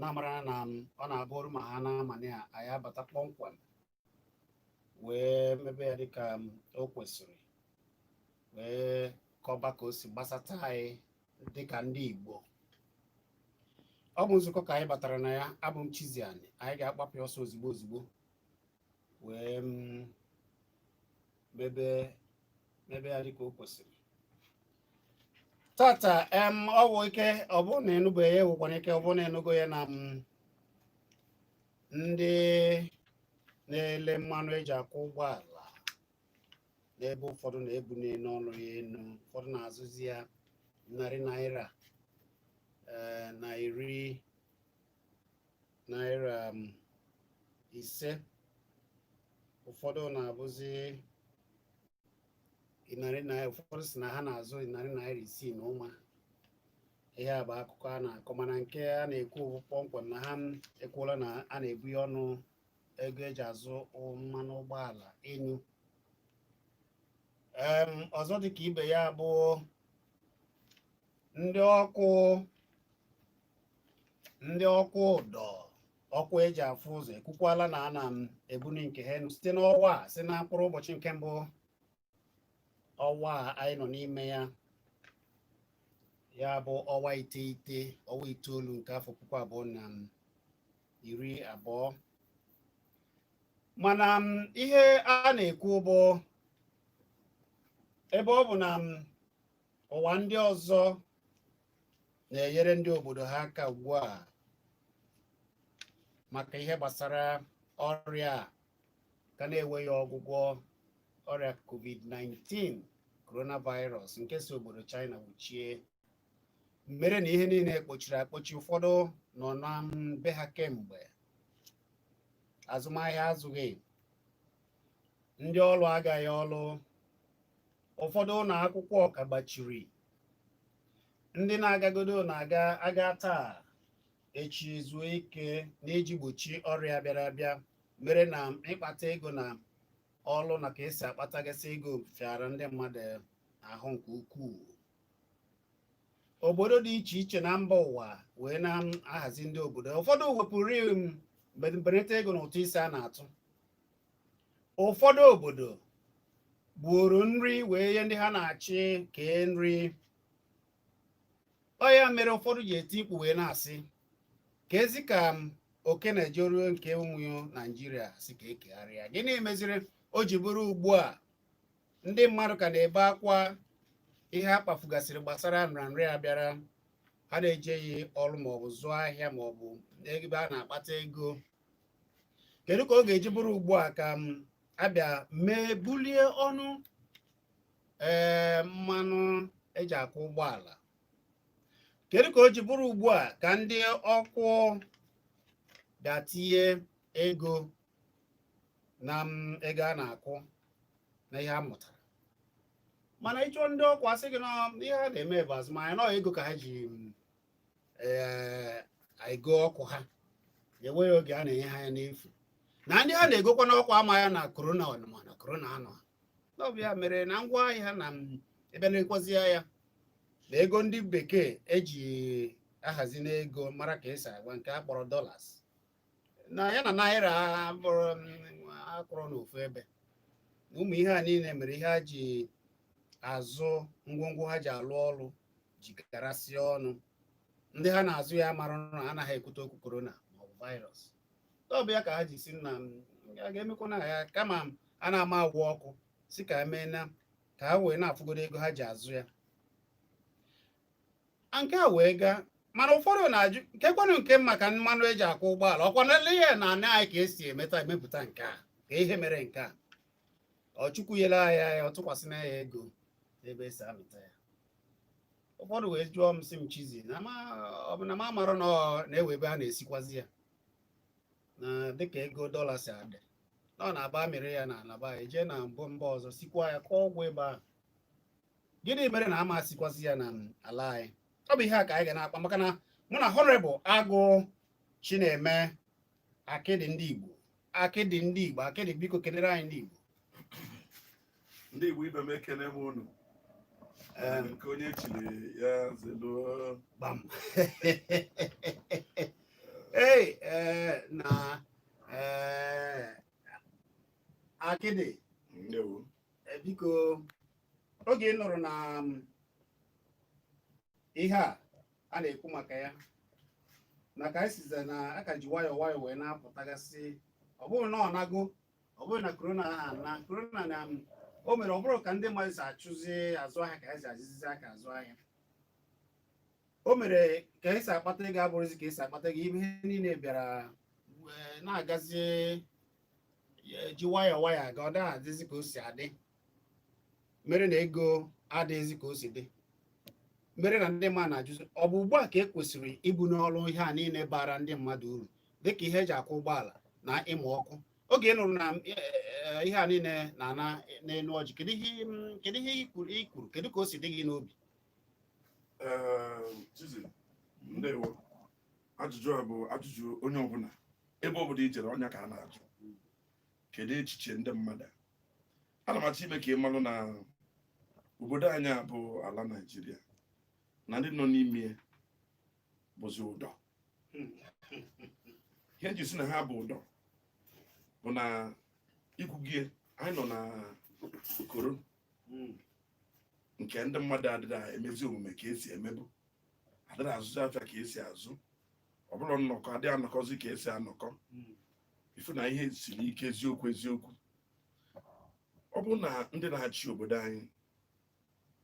na-amara na ọ na-abụ ọrụ ma ha na-amanye ya anyị abata kpọmkwem wee mebe ya dịka o kwesịrị wee kọba ka o si gbasata anyị dịka ndị Igbo ọ bụ nzukọ ka anyị batara na ya abụ m Chizzy Ani anyị ga-agbapụ ọsọ ozigbo ozigbo wee mm, mebe mebe ya dịka o kwesịrị tata em o nwere ike ọ bụ na ị nụbeghị ya e nwekwara ike ọ bụ na ị nụgo ya na m mm, ndị na-ele mmanụ eji akwọ ụgbọala n'ebe ụfọdụ na ebuniela ọnụ ya enu ụfọdụ na-azụzi ya narị naira eh, na iri naira um, ise ụfọdụ na-abụzi narị naira ụfọdụ si na ha na-azụ ya narị naira isii na ụma ihe a bụ akụkọ a na-akọ mana nke a na-ekwu kpọmkwem na ha ekwuola na a na-ebuni ọnụ ego eji azụ mmanụ ụgbọala enu ọzọ dịka ibe ya bụ ndị ọkụ ndị ọkụ ụdọ ọkụ eji afụ ụzọ ekwukwala na a na-ebuni nke ha site n'ọnwa a si na mkpụrụ ụbọchị nke mbụ ọnwa a anyị nọ n'ime ya ya bụ ọnwa iteghete ọnwa itoolu nke afọ puku abụọ na iri abụọ mana m, ihe a na-ekwu bụ ebe ọ bụ na m, ụwa ndị ọzọ na-enyere ndị obodo ha aka ugbu a maka ihe gbasara ọrịa ka na-enweghị ọgwụgwọ ọrịa covid-19 coronavirus nke si obodo China wuchie mere na ihe niile kpochiri akpochi ụfọdụ nọ na be ha kemgbe azụmahịa azụghị ndị ọrụ agaghị ọrụ ụfọdụ ụlọ akwụkwọ ka gbachiri ndị na-agagodo na-aga aga taa echi zuo ike n'iji gbochi ọrịa bịara abịa mere na ịkpata ego na ọrụ na ka esi akpatagasị ego fịara ndị mmadụ ahụ nke ukwuu obodo dị iche iche na mba ụwa wee na-ahazi ndị obodo ụfọdụ wepụrụ mbelata ego na ụtụ isi a na-atụ ụfọdụ obodo gbuoro nri wee nye ndị ha na-achị kee nri ọ ya mere ụfọdụ ji eti mkpu wee na-asị ka ezi ka oke na-ejeruo nke ụmụ naijiria sị ka ekegharịa gịnị meziri o ji bụrụ ugbu a ndị mmadụ ka na-ebe akwa ihe a kpafugasịrị gbasara nrịanrịa bịara ha na-ejeghị ọrụ maọbụ zụọ ahịa maọbụ ebe a na-akpata ego kedu ka ọ ga-eji bụrụ ugbu a ka m abịa mee bulie ọnụ ee mmanụ eji akwọ ụgbọala kedu ka o ji bụrụ ugbu a ka ndị ọkụ bịa tinye ego na m ego a na-akwụ na ihe a mụtara mana ịchọ ndị ọkụ asị gị na ihe ha na-eme bụ azụmahịa na ego ka ha ji ee ego ọkụ ha enweghị oge a na-enye ha ya n'efu na ndị ha na-egokwanụ ọkụ a ama ya na korona ọ nọ ma na korona anọha na ọ bụ ya mere na ngwa ahịa na ebe na-ekwazi ya na ego ndị bekee eji ahazi n'ego mara ka esi agwa nke a kpọrọ dollars na ya na naira abụrọ akwụrọ n'ofu ebe ụmụ ihe a niile mere ihe ha ji azụ ngwongwo ha ji alụ ọrụ ji garasị ọnụ ndị ha na-azụ ya mara na anaghị ekwute okwu korona maọbụ virus ọ bụ ya ka ha ji sị na a ga-emekwanụ ya kama a na-ama ụgwọ ọkụ si ka emee na ka ha wee na-afụgodo ego ha ji azụ ya nke a wee gaa mana ụfọdụ na-ajụ nke kwanụ nke maka mmanụ eji akwọ ụgbọala ọkwa na ele ya na anị anyị ka esi emeta emepụta nke a kee ihe mere nke a ọ chukwu nyere anyị ya ọ tụkwasị na ya ego ebe esi amịta ya ụfọdụ wee jụọ m sị m chizzy na ọ bụ na m amarọ na ọ na-enwe ebe a na-esikwazi ya na dịka ego dọla si adị na ọ na-abụ amịrị ya na ala ebu ya jee na mbụ mba ọzọ sikwa ya kụọ ọgwụ ebe ahụ gịnị mere na ama esikwazi ya na ala anyị ọ bụ ihe a ka anyị ga na-akpa maka na mụ na honorable agụ chineme akịdị ndị igbo akịdị ndị igbo akịdị biko kenere anyị ndị igbo ndị igbo ibe m ekene m unu nke onye chiri ya zelu gbam ee eh, na eh, akịdị eh, biko oge ị nụrụ na um, ihe a a na-ekwu maka ya na ka anyị size na aka ji nwayọọ nwayọọ wee na-apụtagasị ọ bụrụ na ọ nago ọ bụrụ na korona ha na korona na um, o mere ọ bụrọ ka ndị mmadụ si achụzi azụ ahịa ka esi azụzi aka azụ ahịa o mere ka esi akpata ego abụrọzi ka esi akpata ego ihe niile bịara eh, na-agazi eh, ji nwayọọ nwayọọ aga ọ dịghị adịzi ka o si adị mere na ego adịghịzi ka o si dị mere na ndị mmadụ na-ajụzi ọ bụ ugbu a ka e kwesịrị ibuni ọnụ ihe a niile bara ndị mmadụ uru dịka ihe eji akwọ ụgbọala na ịmụ ọkụ oge ị nụrụ na e, e, e, ihe a niile na-ana n'elu ọjị kedu ihe kedu ihe i kwuru kedu ka o si dị gị n'obi ndewo ajụjụ a bụ ajụjụ onye ọbụla ebe ọbụla i jere ọ nya ka a na-ajụ kedu echiche ndị mmadụ ana m achọ ime ka ị malụ na obodo anyị a bụ ala naijiria na ndị nọ n'ime bụzi ụdọ ihe nji si na ha bụ ụdọ bụ na ikwugie anyị nọ na okoro nke ndị mmadụ adịrị emezi omume ka esi emebu adịrị azụzi afịa ka esi azụ ọ bụrụ nnọkọ adị anọkọzi ka esi anọkọ ifu na ihe siri ike eziokwu eziokwu ọ bụrụ na ndị na-achị obodo anyị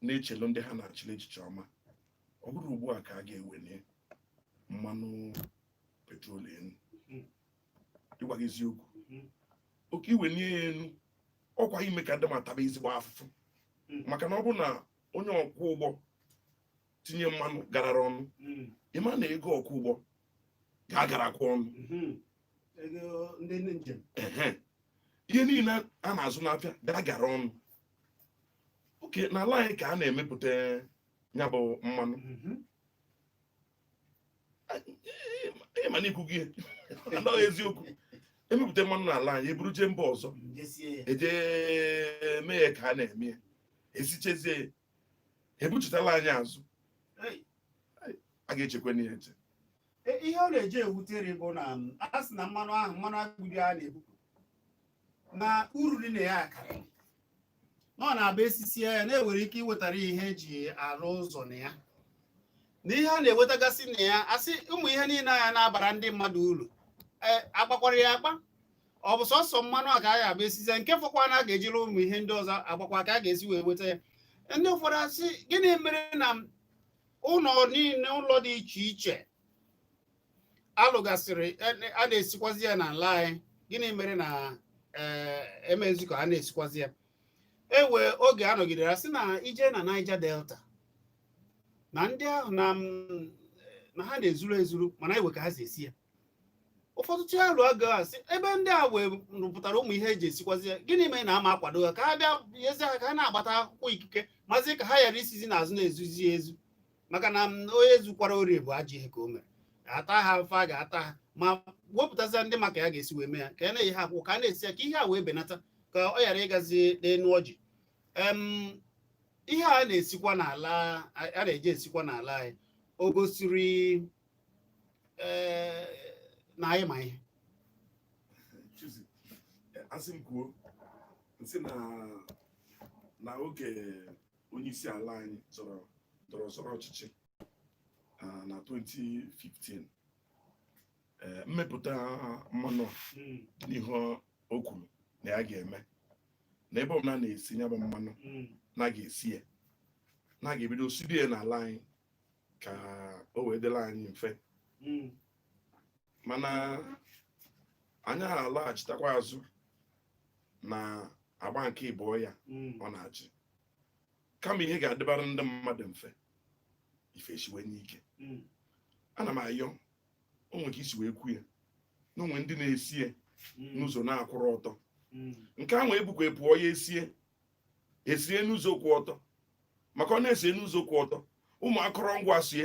na-echelu ndị ha na-achịla echiche ọma ọ bụrọ ugbu a ka a ga-eweni mmanụ petrol enu ịgwa gị eziokwu okay iwenie ya enu ọkwa ime ka ndị mmadụ taba ezigbo afụfụ maka na ọ bụrụ na onye ọkwọ ụgbọ tinye mmanụ garara ọnụ hmm. ịma na ego okwu ụgbọ ga-agarakwa ọnụ hmm. ihe niile a na-azụ n'afịa ga-agara ọnụ okay n'ala anyị ka a na-emepụta ya bụ mmanụ hmm. ịma na ikwu gị anaghị eziokwu emepụta mmanụ n'ala anyị eburu jee mba ọzọ ejee mee ya ka a na-eme ya esichazie ebuchitala anyị azụ a ga-echekwanụ ihe eche e, ihe ọ na-eji ewutere bụ na um, a sị na mmanụ ahụ mmanụ agbidi a na-ebupụ na uru dị na ya akarị na ọ na-abụ esisie ya na enwere ike iwetara ihe eji arụ ụzọ na ya na ihe a na-ewetagasị na ya asị ụmụ ihe niile anya na-abara ndị mmadụ uru e, agbakwara ya agba ọ bụ sọsọ mmanụ a ka a ga-abụ esizi nke fọkwa na a ga-ejiri ụmụ ihe ndị ọzọ agbakwa ka a ga-esi wee weta ya ndị ụfọdụ asị gịnị mere na ụlọ niile ụlọ dị iche iche alụgasịrị e- a na-esikwazi ya n'ala anyị gịnị mere na ee, emezi ka a na-esikwazi ya e wee oge a nọgidere sị na i jee na Niger Delta na ndị ahụ na m- na ha na-ezuru ezuru mana e wee ka ha si esi ya ụfọdụ tụa alo a ga-asị ebe ndị a wee rụpụtara ụmụ ihe eji esikwazi ya gịnị mere na ama akwado ha ka ha bịa nyezi ha ka ha na-agbata akwụkwọ ikike mazi ka ha ghara isizi n'azụ na-ezuzi ezu maka na mm, onye zukwara ori bụ ajọ ihe ka o mere a taa ha afụfụ a ga-ata ha ma wepụtazi ndị ma ka a ga-esi wee mee ya ka a na-enye ha akwụkwọ ka a na-esi ya ka ihe a wee benata ka ọ ghara ịgazi n'enu ọjị ihe a na-esikwa n'ala a na-eji esikwa n'ala anyị o gosiri eh, na anyị ma ihe asị m kwuo m sị na na oge onye isi ala anyị zọrọ ndọrọ zọrọ ọchịchị ah, na 2015 eh, mmepụta mmanụ a hmm, dị n'ihe o kwuru na ya ga-eme na ebe ọbụla a na-esi ya bụ mmanụ hmm, na a ga-esi ya na a ga-ebido sibe ya n'ala anyị ka o wee dịrị anyị mfe Mm. mana anyị alaghachitakwa azụ na agba nke ịbụọ ya Mm. ọ na-achị kama ihe ga-adịbara ndị mmadụ mfe ife esiwanye ike Mm. ana m ayọ o nwere ka i si wee kwuo ya na o nwe ndị na-esi ya Mm. n'ụzọ na-akwụrọ ọtọ Mm. nke ahụ ebukwa pụọ ya esie esie n'ụzọ kwụ ọtọ maka ọ na e sie n'ụzọ kwụ ọtọ ụmụ akụrụngwa sie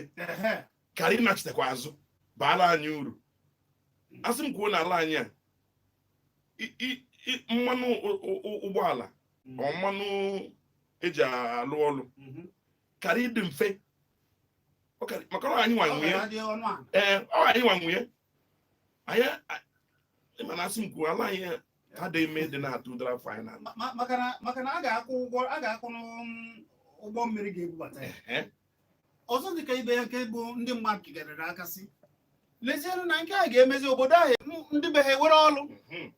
kara ịnachitekwa azụ baala anyị uru asị m kwuo n'ala anyị a mmanụ ụgbọala mm. ọ mmanụ eji alụ ọlụ mm-hmm. kara ịdị mfe maka ọ anyị nwa nwe ya ee ọ anyị nwa nwe ya anyị mana asị m kwuo ala anyị ha dị ime dị na-atụ ụdara final Ma- ma- maka na- maka na a ga-akwụ ụgwọ a ga-akwụ n'ụm- ụgbọ mmiri ga-ebubata ya Ehe. ọzọ dịka ibe ya nke bụ ndị mmadụ kigarịrị aka sị lezienụ na nke a ga-emezi obodo ahụ m- ndị be ha ewere ọlụ Mhm.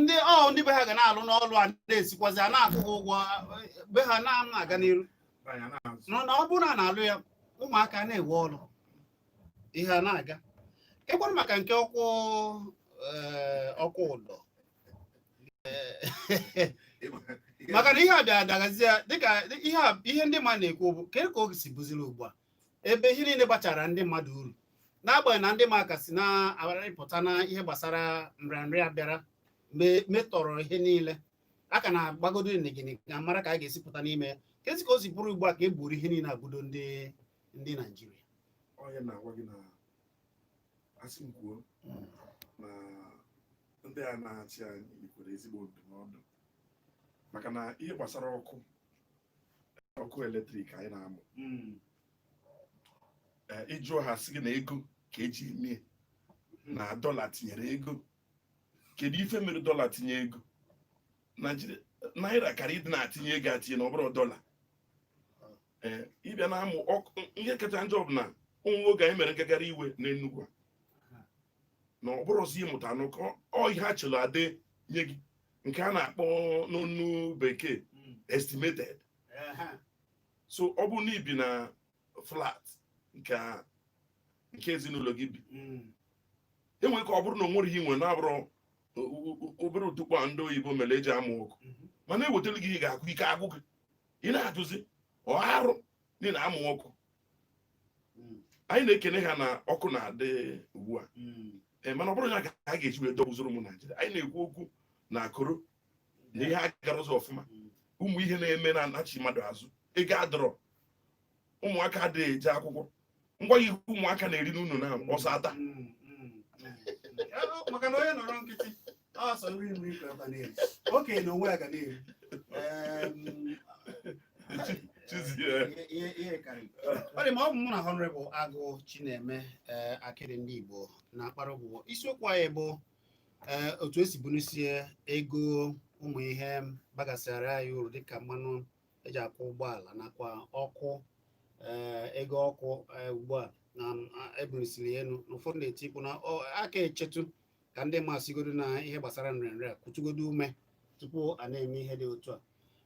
ndị ọ ndị be ha ga na-alụ n'ọlụ a na-esikwazi a na-akwụ ha ụgwọ eh, be ha na-aga n'iru Anyị na-azụ. na na ọ bụrụ na a na-alụ ya ụmụaka na-ewe ọlụ ihe a na-aga ịkwara maka nke ọkụ eh, ọkụ ụdọ Eh, maka na ihe a bịa adagazie dịka ihe a- ihe ndị mmadụ na-ekwu bụ ka ka oge si bụziri ugbu a ebe ihe niile gbachara ndị mmadụ uru n'agbanyeghị na ndị mmadụ ka si na-arịpụta na ihe gbasara nrịanrịa bịara me- metọrọ ihe niile a ka na-agbagodo nigini ka mara ka a ga-esi pụta n'ime ya ka esi ka o si bụrụ ugbu a ka e gburu ihe niile agbudo ndị ndị naijiria onye na-agwa gị na asị m kwuo na ndị a na-achị anyị yikwere ezigbo ndụmọdụ maka na ihe gbasara ọkụ ọkụ eletrik anyị na-amụ ee, ị jụọ ha sị gị na ego ka eji eme na dọla tinyere ego kedu ife mere dọla tinye ego Naịjirịa- naira kara ịdị na-atinye ego atinye na ọ bụrọ dọla ee ị bịa na-amụ ọkụ ihe kacha njọ bụ na ụmụ oge anyị mere ngagharị iwe n'Enugu a na ọ bụrụzi ịmụta anụ ka ọ ihe a chọrọ e denye gị nke a na-akpọ n'onu bekee Mm. estimated Ehe. so ọ bụrụ na i bi na flat nke a- nke ezinụlọ gị bi Mm. e nwere ike ọ bụrụ na o nwerọ ihe i nwe na-abụrọ o- o- o- obere ụtụkpe a ndị oyibo mere eji amụ ọkụ Mhm. mana ewetara gị ihe ị ga-akwụ ike agwụ gị ị na-ajụzi ọ arụ na ị na-amụ ọkụ hmm. anyị na-ekene ha na ọkụ na-adị ugbu a hmm. eh, mana ọ bụrọ ya ka a ga-eji wee dọgbuzoro ụmụ Naijiria anyị na-ekwu okwu na corona ihe agarọ ụzọ ọfụma hmm. ụmụ ihe na-eme na-anachi mmadụ azụ ego adịrọ ụmụaka adịghị eje akwụkwọ ngwa ihe ụmụaka na-eri n'ụlọ na ọsọ ata maka na onye nọrọ nkịtị ọ sọ nri nri ka ọ na-eri okenye na onwe ya ga na-eri ọ dị mma ọ bụ mụ na Honorable Agụ Chineme eh, akịrị ndị Igbo na-akpara ụbụbọ isiokwu anyị bụ eh, otu esi bunisie ego ụmụ ihe bagasịara anyị uru dịka mmanụ eji akwọ ụgbọala nakwa ọkụ eh, ego ọkụ eh, ugbu a na ebulisiri elu na ụfọdụ na-eti mkpu na a ka echetu ka ndị mmadụ sigodo na ihe gbasara nrịanrịa kutugodo ume tupu a na-eme ihe dị otu a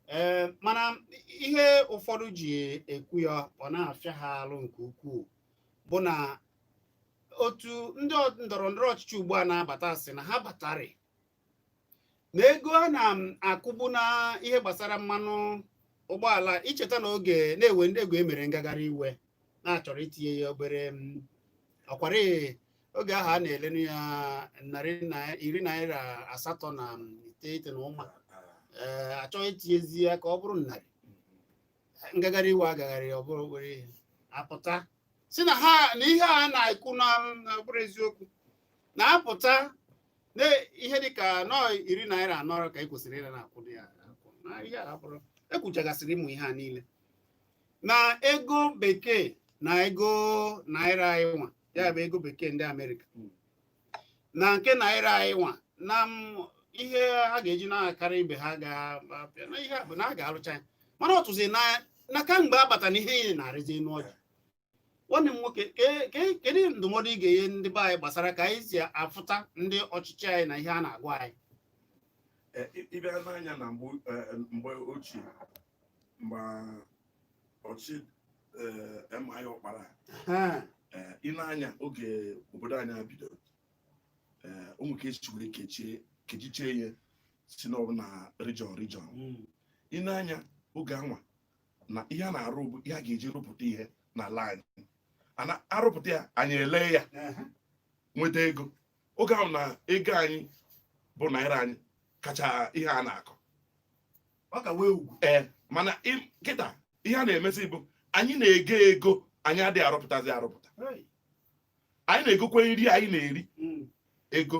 ee eh, mana ihe ụfọdụ ji ekwu ya ọ na-afịa ha alụ nke ukwuu bụ na otu ndị ndọrọ ndọrọ ọchịchị ugbu a na-abata sị na ha batarị na ego a na-akwụbu na ihe gbasara mmanụ ụgbọala i cheta na oge na-ewe ndị ego emere ngagharị iwe na achọrọ itinye ya obere ọkwara oge ahụ a na-elenu ya narị iri naira asatọ na iteghete na ụma eh, achọọ itinyezi ya ka ọ bụrụ narị ngagharị iwe agagharị ọ bụrụ obere ihe apụta si na ha na ihe a na-ekwu na bụrụ eziokwu na-apụta na ihe dị ka nọ iri naira anọ ka e kwesịrị ịra na-akwụ ya akwụ na ihe a bụrụ ekwuchagasịrị ụmụ ihe a niile na ego bekee na ego naira anyị nwa ya bụ ego bekee ndị amerịka hmm. na nke naira anyị nwa na ihe ha ga-eji na-akarị ibe ha ga-apịa na ihe a bụ na a ga-arụcha ya mana ọtụzi na kamgbe abata na ihe na-arịzi enu ọjị nwanne m nwoke ke- ke- kedu ndụmọdụ ị ga-enye ndị be anyị gbasara ka anyị si afụta ndị ọchịchị anyị na ihe a na-agwa anyị Eh, ị- ị bịa nee anya na mgbe eh, mgbe ochie mgbe ọchịchị eh, MI Ọkpara Ha, eh, ị nee anya oge obodo anyị a bidoro eh, o nwe ka esi were kechie kechichie ihe sị na ọ bụ na region region mm, ị nee anya oge anwa na ihe a na-arụ bụ ihe a ga-eji rụpụta ihe n'ala anyị a na-arụpụta ya anyị ele ya nweta ego oge ahụ na ego anyị bụ naira anyị kacha ihe a na-akọ ọ ka wee ee mana kịta ihe a na-emezi bụ anyị na-ego ego anyị adịghị arụpụtazi arụpụta anyị na-egokwa nri anyị na-eri hmm. ego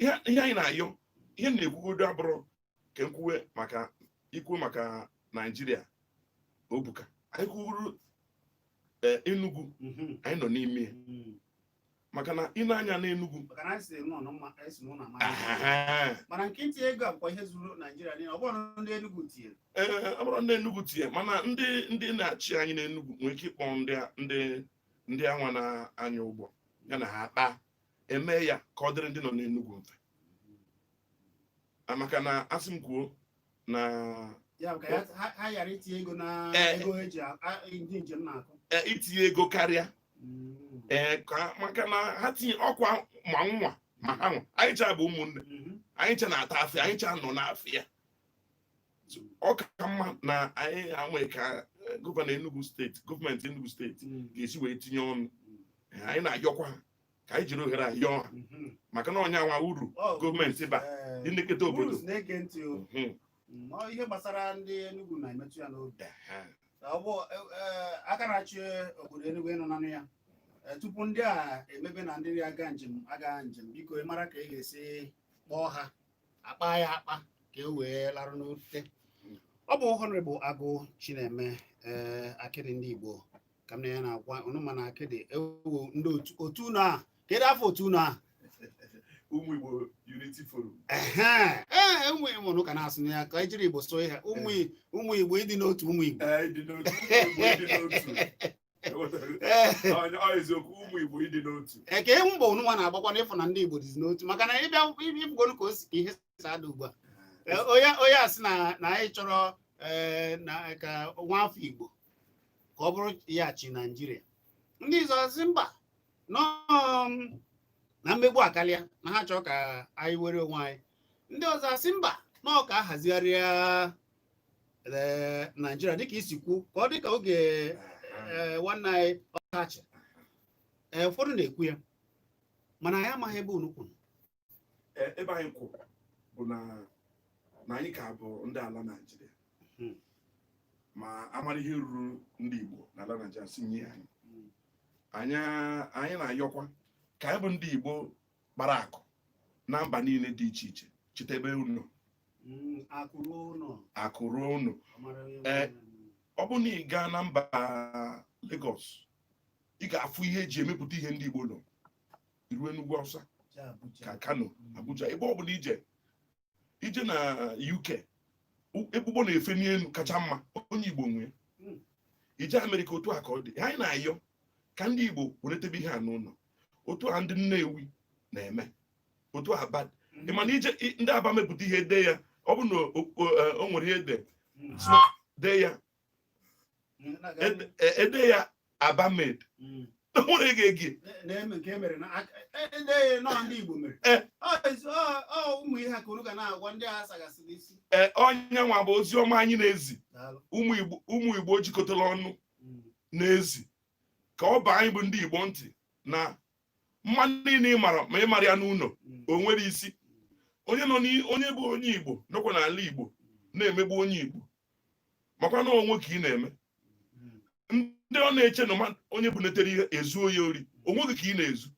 ihe anyị na-ayọ ihe na-ekwugodo abụrọ ka m kwuwe maka ikwu maka naijiria o buka anyị kwuru e, enugu mhm. anyị nọ n'ime mhm. maka na ị nee anya n'enugwu ee ọ bụrọ ndị enugwu tinye mana ndị ndị na-achị anyị n'enugwu nwere ike ịkpọ ndị ndị anwa na-anya ụgbọ ya na ha akpaa emee ya ka ọ dịrị ndị nọ n'Enugwu mfe maka na asị m kwuo na itinye ego karịa mm. e, maka na ha tinye ọkwa ma nwa ma ha nwa anyị cha bụ ụmụnne mm-hmm. anyị cha na-ata afịa anyị cha nọ n'afịa ọ ka mma na anyị anwe ka gọvanọ Enugu steeti gọọmenti Enugu steeti hmm. ga-esi wee tinye ọnụ hmm. anyị na-ayọkwa ka anyị jiri ohere a yọọ ha mhm. maka na ọ ya nwa uru gọọmenti ba eh, ịnekọta obodo mhm. mm, ihe gbasara ndị Enugu na-emetụ ya n'obi e, e, aka na-achị obodo Enugu ị nọ na-anụ ya eh, tupu ndị a emebe na ndị aga njem aga njem biko ị mara ka ị ga-esi kpọọ ha akpa ya akpa ka e wee larụ n'ute ọ bụ Honorable Agụ Chineme ee eh, akịrị ndị Igbo ka m na ya na-agwa ụnụ mana akịdị ewu ndị otu ụnụ a kedu afa otu ụnụ a ụmụ Igbo Unity Forum ee e, ụmụ Igbo ọ ka na-asụ ya ka e jiri Igbo sụọ ya ụmụ Igbo ịdị n'otu ụmụ Igbo eziokwu ụmụ Igbo ịdị n'otu kee mbọ ụnụ nwa na-agbakwa n'ịfụ na ndị Igbo dịzi n'otu maka na ị bịa ị fụgonu ka o si ka ihe ada ugbu a Eh, onye onye a sị na na anyị chọrọ eh, na ka nwa afọ igbo ka ọ bụrụ ya chịa naijiria ndị ọzọ asị mba nọ mm, na mmegbu akarịa na ha chọrọ ka anyị nwere onwe anyị ndị ọzọ asị mba na ọ ka a hazigharịa eh, naijiria dịka i si kwuo ka ọ dị ka oge eh, nwanne anyị ọkacha Eh, ụfọdụ na-ekwu ya mana anyị amaghị ebe unu kwụrụ Ee, ebe anyị kwụ bụ na na anyị ka bụ ndị ala Naịjirịa Hmm. ma a mara ihe ruru ndị Igbo na ala Naịjirịa si nye anyị anyị anyị na-ayọkwa ka anyị bụ ndị Igbo kpara akụ na mba niile dị iche iche chetebe ụnọ, Mm, akụ ruo ụlọ akụ ruo ụnọ a mara onye Eh, nwe ya. ọ bụrụ na ị gaa na mba Lagos ị ga-afụ ihe e ji emepụta ihe ndị Igbo nọ i ruo Enugu Awụsa ka Kano Abuja ebe ọ bụla i jee i jee na UK ebe ụgbọ na-efe n'elu kacha mma onye Igbo nwe ya hmm. i jee Amerịka otu a ka ọ dị anyị na-ayọ ka ndị Igbo weretebe ihe a n'ụlọ otu a ndị Nnewi na-eme otu Aba hmm. ị ma na i jee ndị Aba mepụta ihe dee ya ọ bụ na o e, nwere ihe dee hmm. dee ya e dee ya Aba made hmm. nwere gị egi ọ ya nwa bụ ozi ọma anyị na-ezi ụmụ igbo jikọtara ọnụ hmm. na-ezi ka ọ baa anyị bụ ndị igbo ntị na mma niile ị mara ma ị marọ ya n'ụlọ o nwerọ isi onye nọ onye bụ onye igbo nọkwa n'ala igbo na-emegbu onye igbo makwa na onwe gị ka ị na-eme ndị nọ na-eche na onye bunetere ihe ezuo ya ori onwe gị ka ị na-ezu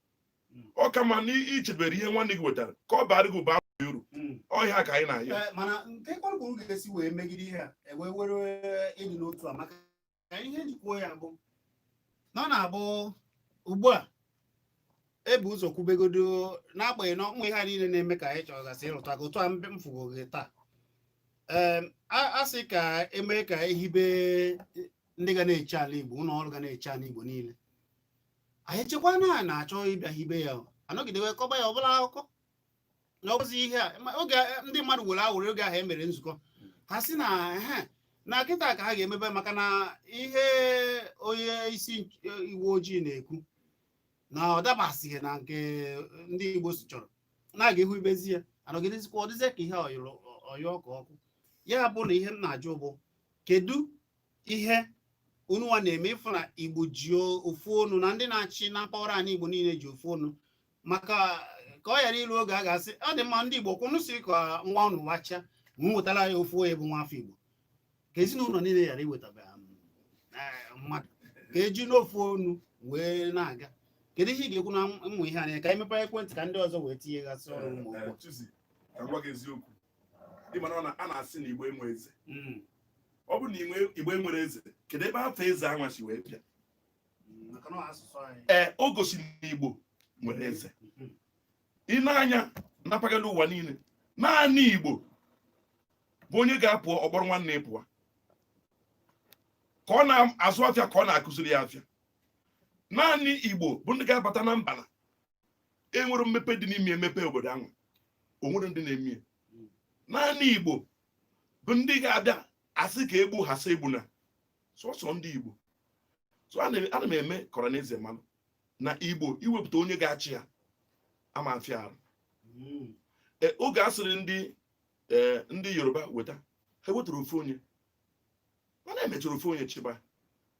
ọ ka ma na i chebere ihe nwanne gị wetara ka ọ baara gị ụba uru hmm. ọ ya ka anyị na-ayọ eh, mana nke kpọrọ ga-esi wee megide ihe a e wee nwee eh, ịdị n'otu a maka ka ihe m ji kwuo ya bụ na ọ na-abụ ugbu a ebu ụzọ kwubegodo n'agbanyeghị na ụmụ ihe niile na-eme ka anyị chọgasị ịrụtụ aka otu a m fụgo gị taa a sị ka emee ka ehibe ndị ga na-eche ala Igbo ụlọ ọrụ ga na-eche ala Igbo niile anyị chekwa na a na-achọ ịbịa hibe ya a nọgide wee kọba ya ọbụla akụkọ na ọ bụzi ihe a ma oge a- ndị mmadụ were awụrụ oge ahụ e mere nzukọ ha sị na ehe na kịta ka ha ga-emebe maka na ihe onye isi nch- uwe ojii na-ekwu na ọ dabasịghị na nke ndị Igbo si chọrọ na a ga-ehibezi ya anọgidezikwa ọ dịzie ka ihe ọyọrọ ọyọ ka ọkụ ya bụ na ihe m na-ajụ bụ kedu ihe unu nwa na-eme ịfụ na Igbo ji ofu ọnụ na ndị na-achị na mpaghara anyị Igbo niile ji ofu ọnụ maka ka ọ ghara ilu oge a ga-asị ọ dị mma ndị Igbo kwụnụ si ka ngwa ụnụ wacha ma wetara ya ofu onye bụ nwa afọ Igbo ka ezinụlọ niile ghara iwetaba um, eh, mmadụ ka eji n'ofu onu wee na-aga kedu ihe ị ga-ekwu na ụmụ ihe anwa ka anyị mepee ekwentị ka ndị ọzọ wee tinye gasị ọnụ ụmụ eh, ụgbọ eh, eziokwu ị mara na a na-asị na Igbo enwe eze hmm. ọ bụ na Igbo enwere eze kedu ebe afa eze anwa si wee bịa ee o gosiri na igbo nwere eze i nee anya na mpaghara ụwa niile naanị igbo bụ onye ga-apụ ọ kpọrọ nwanne ya pụwa ka ọ na-azụ afịa ka ọ na-akụziri ya afịa naanị igbo bụ ndị ga-abata na mba na-enwere mmepe dị n'ime emepe obodo ahụ o nwere ndị na-eme naanị igbo bụ ndị ga-abịa a sị ka e gbuo ha sị egbuna sọsọ ndị igbo so ana m eme kọrọ na eze manụ na igbo iwepụta onye ga-achị ya ama afịa arụ hmm. e, oge asịrị ndị e, ndị yoruba weta ha wetara ofu onye mana emechara ofu onye chịba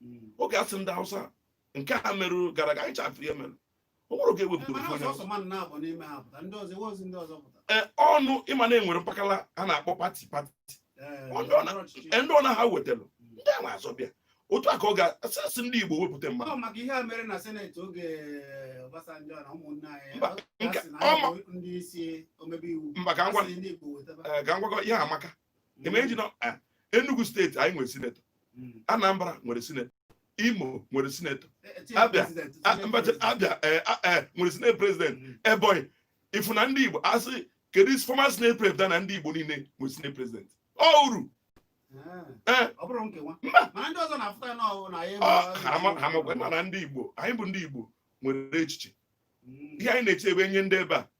hmm. oge asịrị ndị hausa nke a merụ gara aga anyị ncha fụ ihe mere o nwere oge ewepụtara ofu onye ọnụ ị ma na enwere mpakala a na-akpọ pati pati ndị ọ na ha wetara ndị a na-azọ bịa otu a ka ọ ga-asị ndị Igbo wepụta mmadụ mba ka ngwakọ ihe amaka eh, Enugu steeti anyị nwere sinetọ hmm. Anambra nwere sinetọ Imo nwere sinetọ eh, Abia eh, nwere senate president hmm. Ebonyi ị fụ na ndị Igbo a sị kedu isi former senate president na ndị Igbo niile nwere senate president ọ uru ah. mana ndị Igbo anyị bụ ndị Igbo nwere echiche hmm. ihe anyị na-eche wee nye ndị ebe a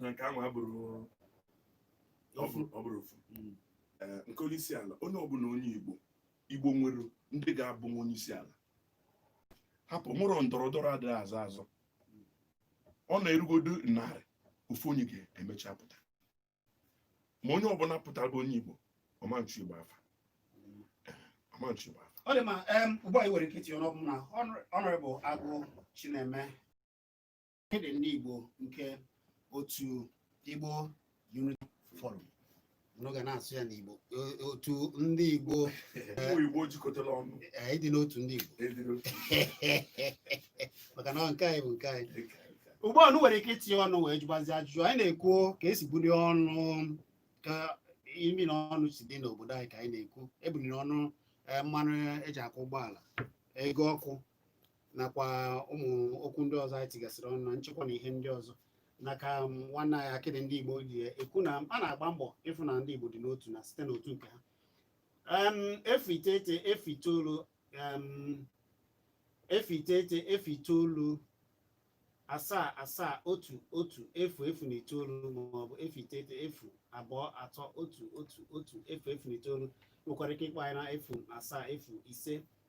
na nke ahụ abụrụ ọ bụrụ ọ bụrụ ofu Mm. Ee, nke onye isi ala onye ọbụla onye Igbo Igbo nwere ndị ga-abụnwu onye isi ala hapụ nwụrụ ndọrọ ndọrọ adịghị azọ azọ ọ na-erugodo narị ofu onye ga-emecha pụta ma onye ọbụla pụtara bụ onye Igbo ọ ma-echu Igbo afa ọ ma-echu Igbo afa ọ dị mma em, ugbu a i nwere ike itinye ọnụ ọ bụ m na Honor- honorable Agụ Chineme akịdị ndị Igbo nke otu Igbo Unity Forum unu ga na-asụ ya n'Igbo otu ndị Igbo Igbo jikọtara ọnụ anyị dị n'otu ndị Igbo maka na nke anyị bụ nke anyị ugbu a unu nwere ike itinye ọnụ wee jụbazi ajụjụ anyị na-ekwu ka esi bulie ọnụ ka imi na ọnụ si dị n'obodo anyị ka anyị na-ekwu ebuliri ọnụ e, mmanụ eji akwọ ụgbọala ego ọkụ nakwa ụmụ okwu ndị ọzọ anyị tigasịrị ọnụ na nchekwa na ihe ndị ọzọ n'aka nwanne anyị akịdị ndị Igbo ji ekwu na a na-agba mbọ ịfụ na ndị Igbo dị n'otu na site n'otu nke ha Em, efu iteghete efu itoolu em, efu iteghete efu itoolu asaa asaa otu otu efu efu na itoolu maọbụ efu iteghete efu abụọ atọ otu otu otu efu efu na itoolu nwekwara ike ịkpọ anyị na efu asaa efu ise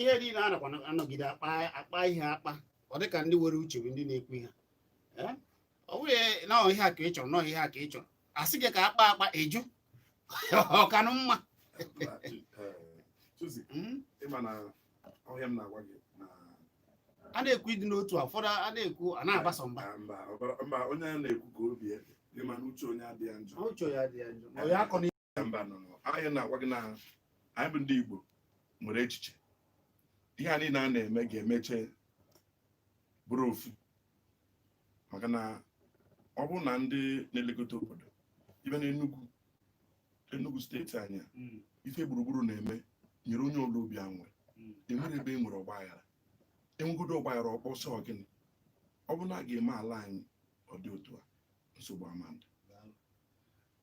ihe niile a nakwa anọgide akpa akpa ihe akpa ọ dịka ndị nwere uche bụ ndị na-ekwu ihe ọ bụghị na ihe a ka ị chọrọ nọọ ihe a ka ị chọrọ a sị gị ka akpa akpa eju ọ kanụ mma hmm? a na-ekwu ịdị n'otu a ụfọdụ a na-ekwu a na-agbasa mba mba onye a na-ekwu ka obi ebe ị ma na uche onye adịghị njọ uche onye adịghị njọ mbanụ anyị na-agwa gị na anyị bụ ndị Igbo nwere echiche ihe a niile a na-eme ga-emeche bụrụ ofu maka na ọ bụrụ na ndị na-elekọta obodo ibe na Enugu Enugu steeti anyị hmm. ife Gburugburu na-eme nyere onye ọbụla obi aṅụrị hmm. enwere ebe e nwere ọgbaghara enwegodo ọgbaghara ọ kpọ sọ gịnị ọ bụrụ na a ga-eme ala anyị ọ dị otu a nsogbu ama adị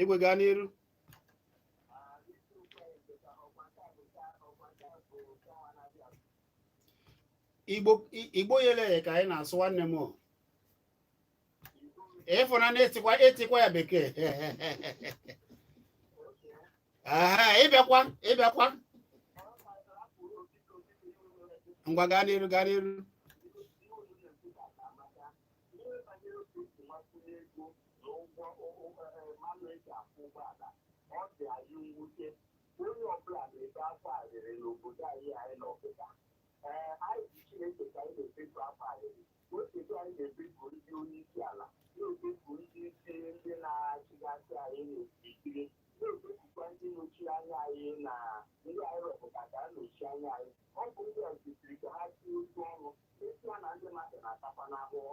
igwe gaa n'iru Igbo i- Igbo yele ya ka anyị na-asụ nwanne m o. ị fụ na na-etikwa etikwa ya bekee aha ị bịakwa ị bịakwa ngwa gaa n'iru gaa n'iru na ụgwọ mmanụ eji akwọ ụgbọala ọ dị anyị mwute onye ọbụla na-ebe akwa arịrị n'obodo anyị anyị na ọkịta ee anyị ji chineke ka anyị na-ebeku akwa arịrị o chedo anyị na-ebeku ndị onye isi ala na-ebeku ndị isi ndị na-achịgasị anyị n'okirikiri na-ebekukwa ndị nọchi anya anyị na ndị anyị rọpụta ka ha nọchie anya anyị ọ bụ ndị ọ dịịrị ka ha tinye otu ọnụ esi ha na ndị mmadụ na-atakwanụ ahụhụ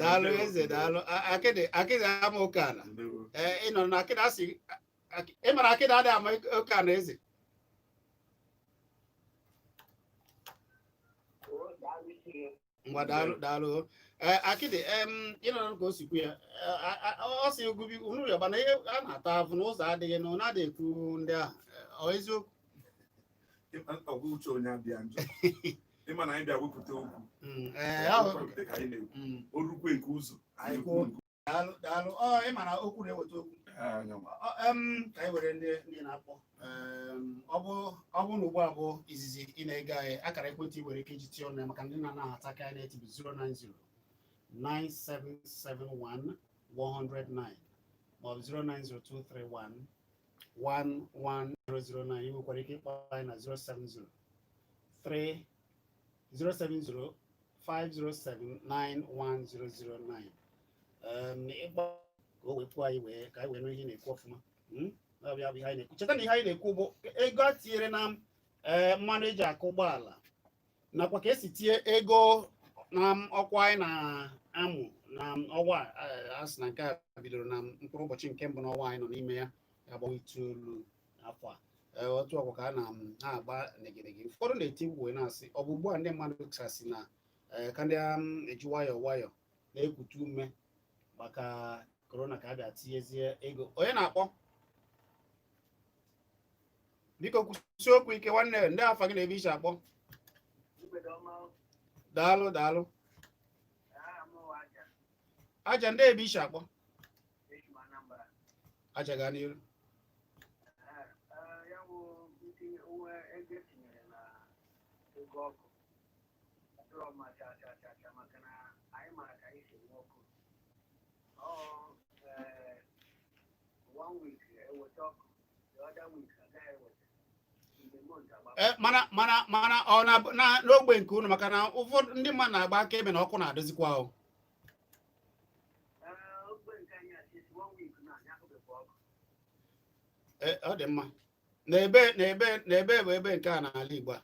daalụ eze daalụ A- akịdị akịdị ama oke ala ndewo ee ị nọrọ na akịdị asị akị- ị mara akịdị adịghị ama oke ala eze ngwa daalụ daalụ ee akịdị em ị nọrọ ka o si kwu ya Ee, a- a- ọ sị ogubi unu yọba na ihe a na-ata afụ n'ụzọ adịghị na ọ na-adịghị ekwu ndị ahụ Ee, ọ eziokwu ọ bụrụ na ugbu a bụ izizi ị na-ege anyị akara ekwentị i nwere ike iji tinye ọnụ maka ndị na-anahata ka anyị na-eti bụ 090 9771 109 maọbụ 0902311 11009 ị nwekwara ike ịkpọ anyị na 070 3 070 507 91009 um, ịkpọ ka o wee kwuo anyị wee ka anyị wee nụ ihe ị na-ekwu ọfụma Hmm? Ọ bụ ya bụ ihe anyị na-ekwu cheta na ihe anyị na-ekwu bụ ego a tinyere na eh, mmanụ eji akwọ ụgbọala nakwa ka esi tinye ego na ọkụ anyị na-amụ na ọwa a sị na nke a bidoro na mkpụrụ ụbọchị nke mbụ n'ọnwa anyị nọ n'ime ya a bụ ọnwa itoolu afọ a Eh, otu ọkwa ka a na-agba negedege ụfọdụ na-eti mkpu na-asị ọ bụ ugbu a ndị mmadụ kasị na eh, ka ndị um, eji nwayọọ nwayọọ na-ekute ume maka korona ka a bịa tinyezie ego onye na-akpọ biko kwusie okwu ike nwanne ndee afa gị na ebe i si akpọ daalụ daalụ aja ndee ebe i si akpọ aja gaa n'iru Eh, mana mana mana ọ na n'ogbe nke unu maka na ụfọdụ ndị mmadụ na-agba aka ebe na ọkụ na-adịzikwa ahụ eh, ọ dị mma n'ebe n'ebe n'ebe bụ ebe nke a n'ala Igbo a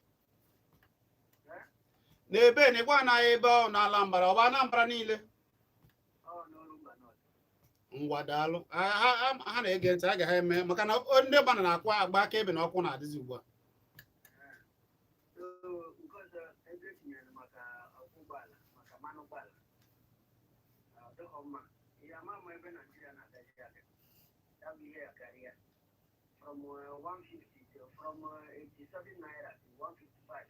n'ebe na ịgwa anaghị ebe ọ na-ala mbara ọ bụ Anambra niile ngwa daalụ ha na-ege ntị aga ha eme maka na ndị mmadụ na-akwa agba akaebe na ọkụ na-adịzi ugbu a from uh, 150 to from uh, 87 naira to 155.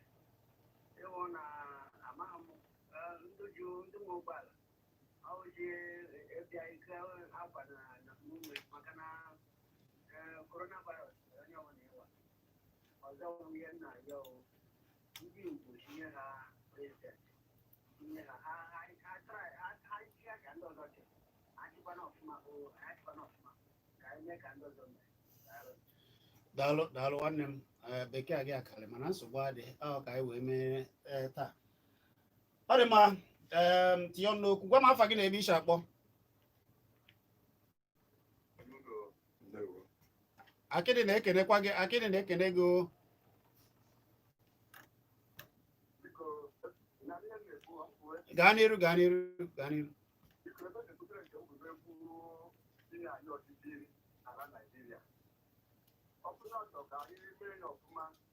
They want uh, amount, uh, ndị ji ndị nwe ụgbọala daalụ daalụ nwanne m eh, Bekee gị akarị mana nsogbu adịghị ahụ ka anyị wee mee eh, taa ọ dị mma tinye ọnụ n'okwu gwa m afa gị na ebe i si akpọ Akịdị na-ekenekwa gị Akịdị na-ekene gị o gaa n'iru gaa n'iru gaa n'iru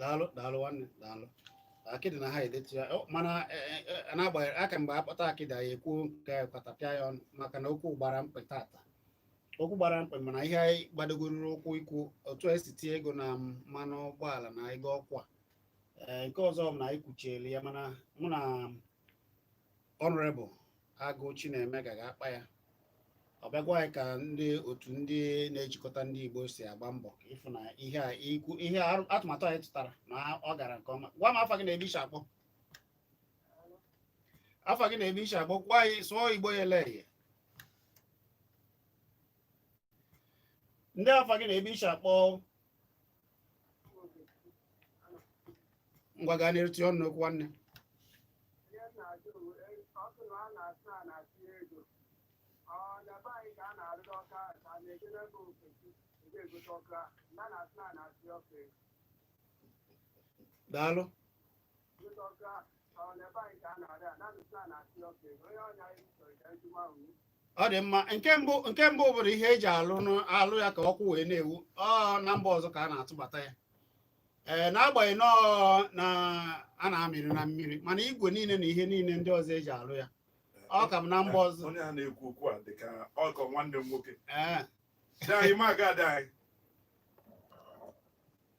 daalụ daalụ nwanne daalụ Akịdị na ha edetu ya Ọ, mana eh, eh, eh, n'agbanyeghị aka mgbe a kpọta Akịdị anyị ekwuo nke anyị katapịa ya ọnụ maka na okwu gbara mkpị tata okwu gbara mkpị mana ihe anyị gbadogoruru ụkwụ ikwu otu e si tie ego na mmanụ ụgbọala na ego ọkụ a ee nke ọzọ bụ na anyị kwuchieli ya mana mụ na Honourable Agụ Chineme ga ga-akpa ya ọ bịa gwa anyị ka ndị otu ndị na-ejikọta ndị Igbo si agba mbọ ịfụ na ihe a ikwu ihe atụmatụ anyị tụtara na ọ gara nke ọma gwa m afa gị na ebe i si akpọ afa gị na ebe i si akpọ ka anyị sụọ Igbo ya ele ya ndị afa gị na ebe i si akpọ ngwa gaa na-erutu ọnụ n'okwu nwanne daalụ ọ dị mma nke mbụ nke mbụ bụrụ ihe eji alụ alụ ya ka ọkụ wee na-enwu ọ na mba ọzọ ka a na-atụbata ya ee eh, n'agbanyeghị nọọ na a na-amịrị na mmiri mana igwe niile na ihe niile ndị ọzọ eji alụ ya ọ ka m na mba ọzọ onye a na-ekwu okwu a dị ka ọkọ nwanne m nwoke eh.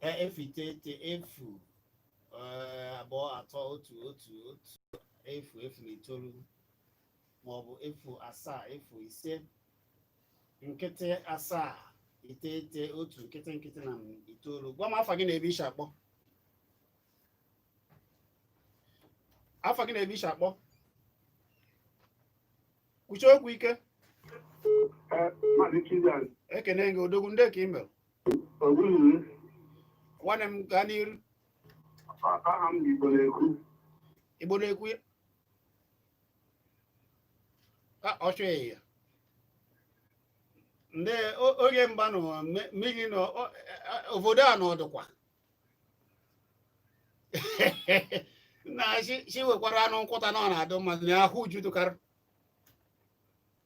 E- efu iteghete efu eh, abụọ atọ otu otu otu efu efu na itoolu maọbụ efu asaa efu ise nkịtị asaa iteghete otu nkịtị nkịtị na itoolu gwa m afa gị na ebe i shi akpọ afa gị na ebe i shi akpọ kwushie okwu ike Maazị Chizan, ekene gị odogwu ndị ka i mere nwanne m gaa n'iru aha m igbo na-ekwu igbo na-ekwu ya ka ọ chọghị ya ndị oge mba nọ mmiri nọ obodo a nọ dịkwa na chi wekwara anụ nkwụta na ọ na-adụ mmadụ na ahụ uju dụkarị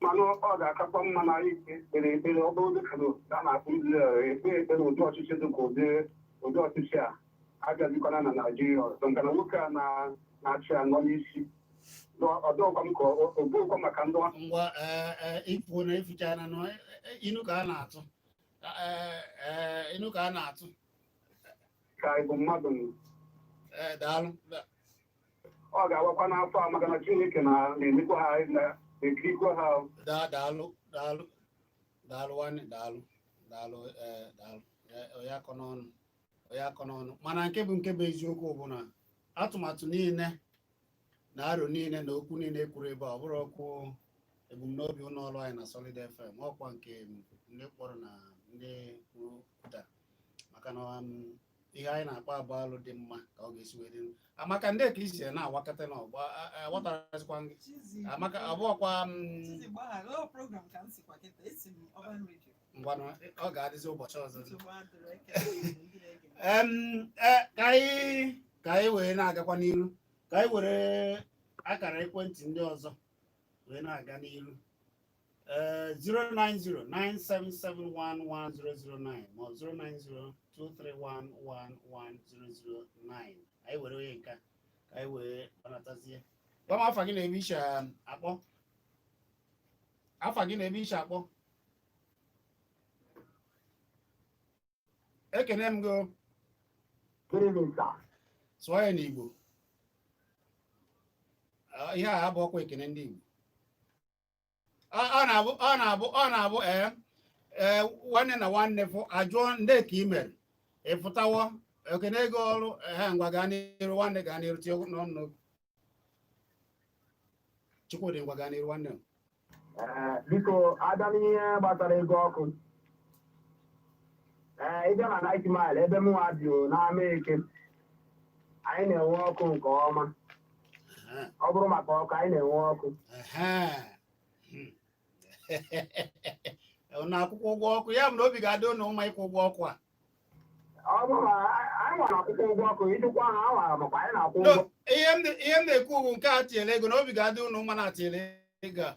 mana ọ ga-akakwa mma na anyị kpere ekpere ọ bụrụ dịka na a na-akpọ Izrel ekpe ekpere ụdị ọchịchị dị ka ụdị ụdị ọchịchị a agazikwana na Naịjirịa ọzọ maka na nwoke a na- na-achị a nọ n'isi ọ dịkwa m ka ọ bụkwa maka ndị ọ- ngwa ee, ee, ifu na ifucha na nọ e- e- inu ka a na-atụ Ee, ee, inu ka a na-atụ ka anyị bụ mmadụ Ee, daalụ Da- ọ ga-awakwa n'afọ a maka na Chineke na na-enekwa ha na-ekirikwa ha daa daalụ daalụ daalụ nwanne daalụ daalụ ee daalụ onye akọna ọnụ onye akọna ọnụ mana nke bụ nke bụ eziokwu bụ na atụmatụ niile na aro niile na okwu niile e kwuru ebe a ọ bụrọkwa ebumnobi ụlọ ọrụ anyị na Solid FM ọ kwa nke ndị kpọrọ na ndị kwupụtara maka na um, ihe anyị na-akpa bụ alụ dị mma ka ọ ga-esi wee dị maka ndị ka isi na-awakọta na ọgba aghọtarazikwa gị amaka abụọkwa ngwanụ ọ ga-adịzi ụbọchị ọzọ ka anyị wee na-agakwa n'iru ka anyị were akara ekwentị ndị ọzọ wee na-aga n'iru Uh, 090-9771-1009 ma ọ 090-231-11009 anyị were onye nke a, ka anyị wee gbanatazie gwa m afa gị na ebe i si akpọ afa gị na ebe i si akpọ ekene m gị o, Good evening, sir. sụọ ya n'igbo Ah, ihe a abụrọkwa ekene ndị igbo ọ na-abụ ọ na-abụ ọ na-abụ ee ee nwanne na nwanne fụ ajụọ ndee ka i mere ị fụtawo ekenee gị ọrụ ha ngwa gaa n'iru nwanne gaa n'iru tinye ọnụ chukwudị ngwa gaa n'iru nwanne m Ee, biko a bịa n'ihe gbasara ego ọkụ ee ị bịa na Ninth Mile ebe m nwa bi n'Amaeke anyị na-enwe ọkụ nke ọma ọ bụrụ maka ọkụ anyị na-enwe ọkụ na akwụkwọ ụgwọ ọkụ ya bụ na obi ga-adị ụnụ mma ịkwụ ụgwọ ọkụ a ọ bụrụ na anyị nwere akwụkwọ ụgwọ ọkụ ịdịkwa ha a nwara makwa anyị na-akwụ ụgwọ ihe m na-ekwu ugwu nke a tinyere ego na obi ga-adị ụnụ mma na atinyere ego a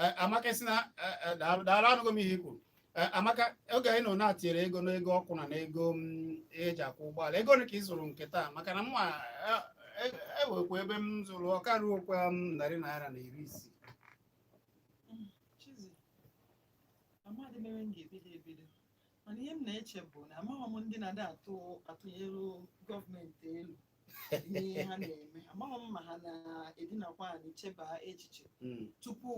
eh, maka si na eh, eh, daalụ daalụ anụgo m ihe i kwuru Eh, maka oge anyị nọ na-atinyere ego n'ego ọkụ na n'ego mm, eji akwọ ụgbọala ego ole ka ị zụrụ nke taa maka na mụnwa enwekwa ebe m zụrụ ọ ka ruokwa m narị naira na iri isii Chizi, amadị m ebe m ga-ebido ebido mana ihe m na-eche bụ na amaghị m ndị na-adị atụ atụnyere gọọmenti elo tupu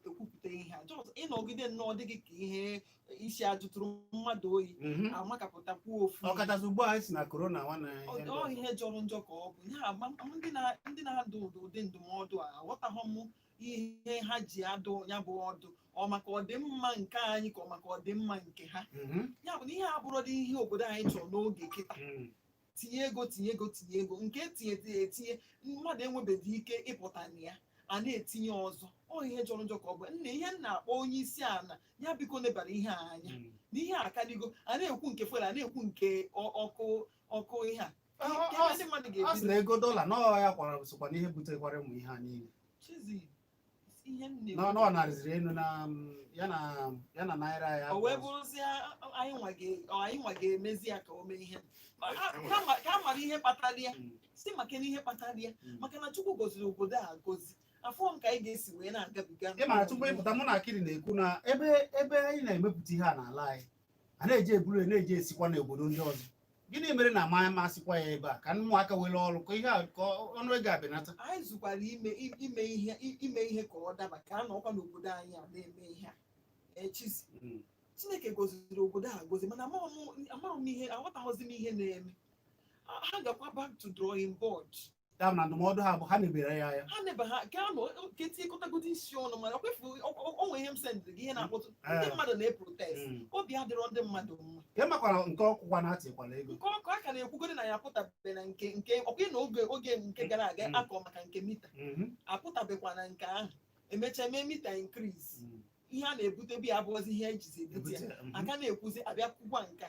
ekwupụta ihe a just ị nọgide nnọọ dị gị ka ihe isi ajụtụrụ mmadụ oyi mhm. amakapụtakwu ofu ọkachasị ugbu a si na korona ọ ihe jọrọ njọ ka ọ bụ ndị na-adụ ụdị ndụmọdụ a aghọtaghị m ihe ha ji adụ ya bụ ọdụ ọ maka ọdịmma nke anyị ka ọ maka ọdịmma nke ha mhm. ya bụ na ihe abụrọdị ihe obodo anyị chọrọ n'oge kịta mhm. tinye ego tinye ego tinye ego nke etinye etinye etinye mmadụ enwebeghị ike ịpụta na ya a na-etinye ọzọ ọ ihe jọrọ njọ ka ọ bụ nna ihe m na-akpọ onye isi ala ya biko nebara ihe a anya Mm. na ihe a akaligo a na-ekwu nke fuel a na-ekwu nke ọ- ọkụ ọkụ ihe a Ọ- ọ- Nke ọ ndị mmadụ ọ sị ga-ebido na ego dọla na ọ ya kwara sokwa n'ihe butekwara ụmụ ihe a niile chizi n'ọnụ ọ na-arịziri elu na ya na ya na naira ya o wee bụrụzie anyị nwa ga- ọ, anyị nwa ga-emezi ya ka o mee ihe Ọ- a- ka a ma- ka a mara ihe kpatara ya si maka na ihe kpatara ya Mm. maka na chukwu goziri obodo a gozi afụrọ m ka anyị ga-esi wee na-agabiga ị mara tupu ị pụta mụ na akịrị na-ekwu na ebe ebe anyị na-emepụta ihe a n'ala anyị a na-eji eburu ya na-eje esikwa n'obodo ndị ọzọ gịnị mere na a ma- a ma-esikwa ya ebe a ka ụmụaka nwere ọrụ ka ihe a- ka ọnụ ego ya benata anyị zụkwara ime i- ime ihe i- ime ihe ka ọ daba ka a nọkwa n'obodo anyị a na-eme ihe a e Chizzy Mm. chineke goziri obodo a gozi mana amaghị m- amaghị m ihe aghọtaghịzi m ihe na-eme Ha- ha gakwa back to drawing board ya na ndụmọdụ ha bụ ha nebere ya anya ha nebe ha ka anụ ka e tikọtagodi isi ọnụ mana kwefu o nwe ihe m sendịrị gị ihe na-akpata ndị Eh. mmadụ na-eprotest Mm. obi adịrọ ndị mmadụ mma ka ịmakwara nke ọkụkwa na atịkwala ego nke ọkụ a ka na-ekwugodi na ya apụtabe na nke nke ọkwa na oge oge nke gara aga Mm. a kọọ maka nke mita Mhm. apụtabekwa na nke ahụ emechaa mee mita increase Mm. ihe a na-ebutebu ya abụọzi ihe e jizi ebute ya Ebute, mhm. a ka na-ekwuzi a bịa kwukwa nka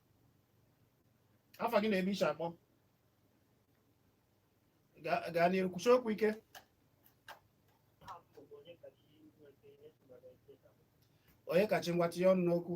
afa gị na ebe i shi akpọ Ga- gaa n'iru kwushi okwu ike onyekachi ngwa tinye ọnụ n'okwu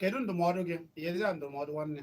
kedu ndụmọdụ gị nyezi ya ndụmọdụ nwanne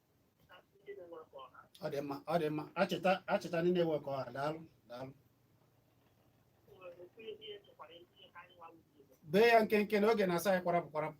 ọ dị mma ọ dị mma achịta achịta ndị na-ewe ka ọha daalụ daalụ bee ya nkenke na oge na-asị anyị kwara pụ kwara pụ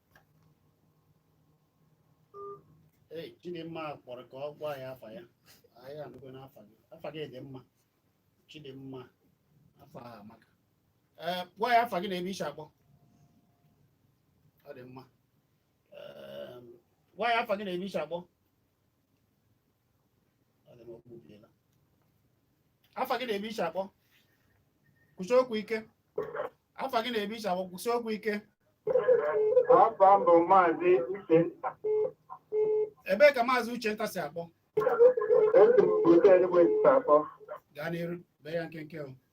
Ee, Chidimma kpọrọ ka ọ gwa anyị afa ya. Anyị anụgo n'afa gị. Afa gị dị mma. Chidimma, afa a amaka. Ee, gwa anyị afa gị na ebe i shi akpọ. Ọ dị mma. Ee, gwa anyị afa gị na ebe i shi akpọ. afa gị na ebe i shi akpọ kwushi okwu ike afa gị na ebe i shi akpọ kwushi okwu ike afa m bụ maazị uchenta ebee ka maazị uchenta si akpọ esi m otu enugwu esi akpọ gaa n'iru bee ya nkenke o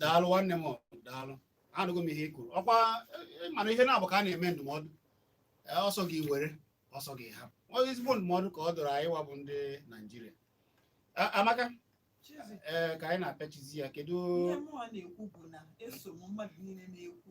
daalụ nwanne m daalụ anụgo m ihe i kwuru ọkwa e, mana ihe na-abụ ka a na-eme ndụmọdụ e, ọ sọ gị were ọ sọ gị hapụ onye ezigbo ndụmọdụ ka ọ dụrụ anyị wa bụ ndị naijiria amaka ee ka anyị na-apịachizi ya kedu ihe mụọ na-ekwu bụ na eso m mmadụ niile na-ekwu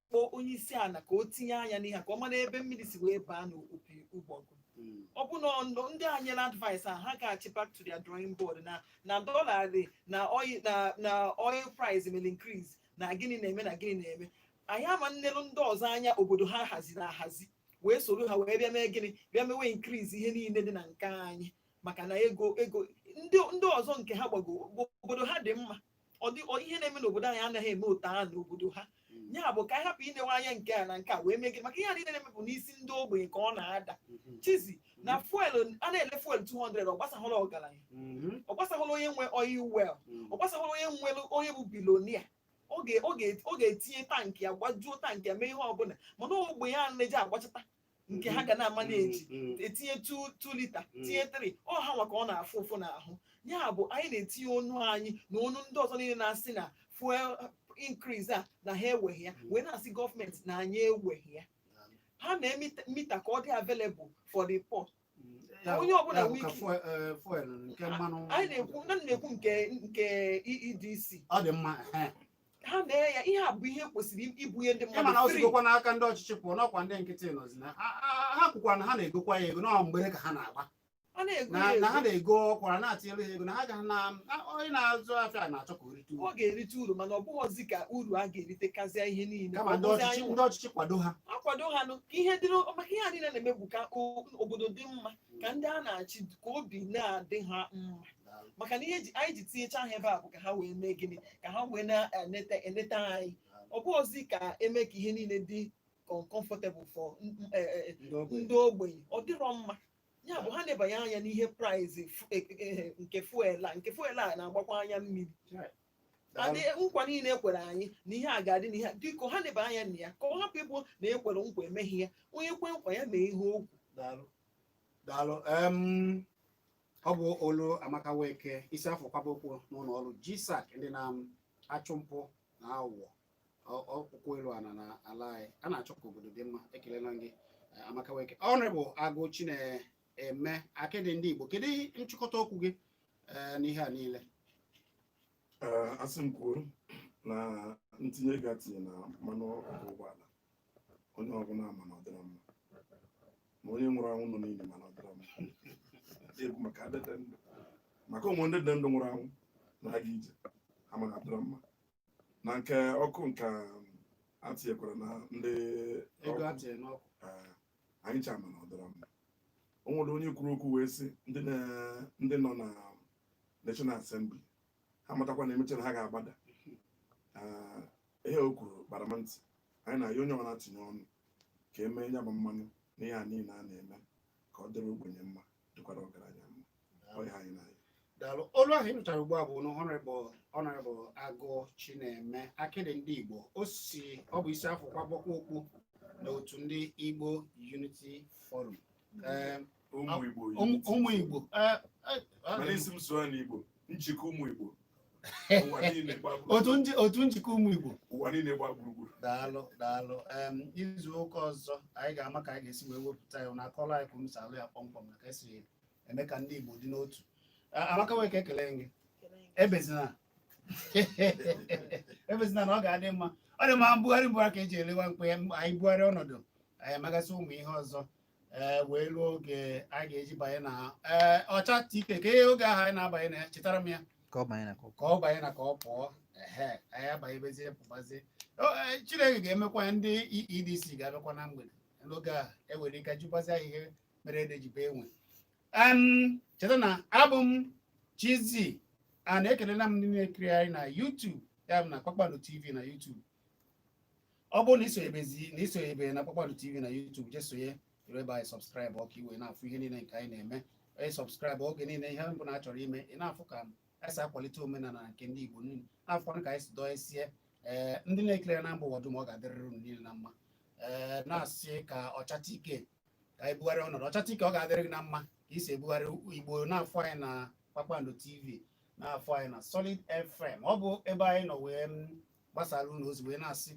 kpọọ onye isi ala ka o tinye anya n'ihe a, ka ọ mara ebe mmiri si wee baa n'opi ụgbọgụ Mm. ọ bụ na ọ- ndị a nyere advice a ha gaachi back to their drawing board na na dollar dị na oil na na oil price mere increase na gịnị na-eme na gịnị na-eme anyị ama nnelu ndị ọzọ anya obodo ha haziri ahazi wee soro ha wee bịa mee gịnị bịa mewe increase ihe niile dị na nke anyị maka na ego ego ndị ndị ọzọ nke ha gbago obodo ha dị mma ọ dị ọ- ihe na-eme n'obodo anyị anaghị eme otu a n'obodo ha Mm. ya bụ ka anyị hapụ inewe anya nke a na nke a wee mee gịnị maka ihe a niile na-eme bụ n'isi ndị ogbenye ka ọ na-ada Mhm. cheezi na fuel a na-ele fuel 200 ọ gbasahụla ọgaranya Mhm. ọ gbasahụla onye nwe oil well Mm. ọ gbasahụla onye nwere onye bụ bilonia ọ ga- ọ ga- ọ ga-etinye tankị ya gbajuo tankị ya mee ihe ọbụla mana ogbenye a na-eji agbachata nke ha ga na-ama na-eji Mm, etinye 2 lita Mm. tinye 3 ọ ha nwa ka ọ na-afụ ụfụ n'ahụ ya bụ anyị na-etinye ọnụ anyị na ọnụ ndị ọzọ niile na-asị na fuel increase a na ha eweghị ya Mm. wee na-asị gọọmenti na anyị eweghị ya mm. ha mee mita- mita ka ọ dị available for the poor Ya, Onye ọbụla ya bụ ka nwee ike. fuel- eh, fuel nke mmanụ anyị na-ekwu na na-ekwu nke nke EEDC ọ dị mma ehe. ha mee ya ihe a bụ ihe kwesịrị ibunye ndị ị ma na mmadụ ọ free. sigokwa n'aka ndị ọchịchị pụọ na ọ kwa ndị nkịtị nọzi na ha- ha- ha kwukwa na ha na-egokwa ya ego na ọ mgbere ka ha na-agba a na-ego na ya na ha ego. na-ego ọkwara na atinyere ha ego na ha ga na na- onye na-azụ afịa na-achọ ka o ri ọ ga-erite uru mana ọ bụghọzi ka uru a ga-erite kazịa ihe niile kama ndị Ọ bụzi ọchịchị anyị ndị ọchịchị kwado ha akwado ha nụ ka ihe dịrị maka ihe a niile na-eme bụ ka o- obodo dị mma ka ndị a na-achị ka obi na-adị ha mma maka na ihe ji- anyị ji tinyecha ha ebe a bụ ka ha wee mee gịnị ka ha wee na-eneta eneta anyị ọ bụghọzi ka e mee ka ihe niile dị com- comfortable for n- n- eh, eh, ndị ogbenye ọ dịrọ mma ya bụ ha nebanye anya n'ihe price nke fuel a nke fuel a na-agbakwa anya mmiri and nkwa niile e kwere anyị na ihe a ga-adị na ihe a biko ha neba anya na ya ka ọ hapụ ịbụ na e kwere nkwa emeghị ya onye kwe nkwa ya mee ihe o kwu daalụ daalụ em ọ bụ olu Amaka Nweke isi a fụ kwaba okpu n'ụlọ ọrụ GSAC ndị na-achụ mpụ na aghụghọ ọsọ ụkwụ elu ana na ala anyị a na-achọ ka obodo dị mma ekelela m gị eh, Amaka Nweke Honourable Agụ Chineme akịdị ndị Igbo kedu nchịkọta okwu gị eh, n'ihe a niile eh, a sị m kwuo na ntinye ego a tinye na mmanụ ọkụ ụgbọala onye ọbụla ma na ọdịra mma ma onye nwụrụ anwụ nọ n'ini ma na ọdịra mma ekwu maka ndị dị ndụ maka o nwe ndị dị ndụ nwụrụ anwụ na-aga ije ha ma na ọdịra mma na nke ọkụ nke a tinyekwara na ndị ego a tinyere n'ọkụ eh, anyị ncha ma na ọ dịrọ mma o nwere onye kwuru okwu wee sị ndị na- ndị nọ na National Assembly ha matakwa na emechara ha ga-agbada Ah, ihe o kwuru gbara m ntị anyị na-ayọ onye ọbụla tinye ọnụ ka emee ya bụ mmanụ na ihe a niile a na-eme ka ọ dịrị ogbenye mma dịkwara ọgaranya mma daalụ olu ahụ ị nụchara ugbu a bụ Honorable Honorable agụ chineme akịdị ndị igbo o si ọ bụ isi a fụ kwaba okpu n'otu ndị igbo unity forum Ee, ụmụ igbo ụmụ ụmụ igbo ee, ee, ee, mana ị sị m sụọ n'igbo njikọ ụmụ igbo ụwa niile gba gburugburu. otu nji- otu njikọ ụmụ igbo ụwa niile gba gburugburu daalụ daalụ em izu ụka ọzọ anyị ga-ama ka anyị ga-esi wee wepụta ya na akọla anyị kwuru salụ ya kpọmkwem na ka esi eme ka ndị Igbo dị n'otu Amaka Nweke ekele m gị ebezina ebezina na ọ ga-adị mma ọ dị mma mbugharị mbugharị ka eji ele nwa mkpi anyị bugharị ọnọdụ anyị amagasị ụmụ ihe ọzọ Eh, wee ruo oge a ga-eji banye na eh, ọchata ike ka ihe oge ahụ anyị na-abanye na ya chetara m ya ka ọ banye na ka ọ pụọ ehe anyị abanyebezie pụbazie eh, chineke ga-emekwa ndị EEDC ga-abịakwa na mgbede n'oge a enwere ike jụbazi ihe mere ede ji bee nwii cheta na abụ m Chizzy a na-ekelela m ndị na-ekiri anyị na YouTube ya bụ na Kpakpando TV na YouTube ọ bụrụ na isonyebezi na isonyebe na Kpakpando TV na YouTube jee sonye ebe anyị subscribe ụọ ka ị wee na-afụ ihe niile nke anyị na-eme anyị subscribe oge niile ihe ọbụna a chọrọ ime ị na-afụ ka anyị si akwalite omenala nke ndị Igbo niile na-afụkwanụ ka anyị si dọọ esie ee eh, ndị na-ekiri na mba ụwa dum ọ ga-adịrịrị unu niile na mma ee eh, na-asị ka ọchata ike ka anyị bugharị ọnọdụ ọchata ike ọ ga-adịrị gị na mma ka ị si ebugharị igbo na-afụ anyị na kpakpando tv na-afụ anyị na solid fm ọ bụ ebe anyị nọ wee gbasara unu ozi wee na-asị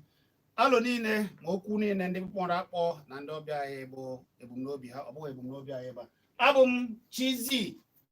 alo niile ma okwu niile ndị kpọrọ akpọ na ndị ọbịa anyị bụ ebumnobi ha ọ bụghị ebumnobi anyị ebe a abụ m Chizzy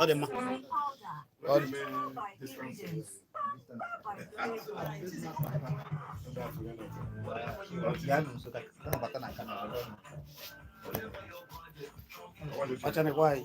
ọ dị mma ọ dị ya nụ nso ka ka ọ bata na nka na ọrụ ọnụ. ọcha na-ekwe anyị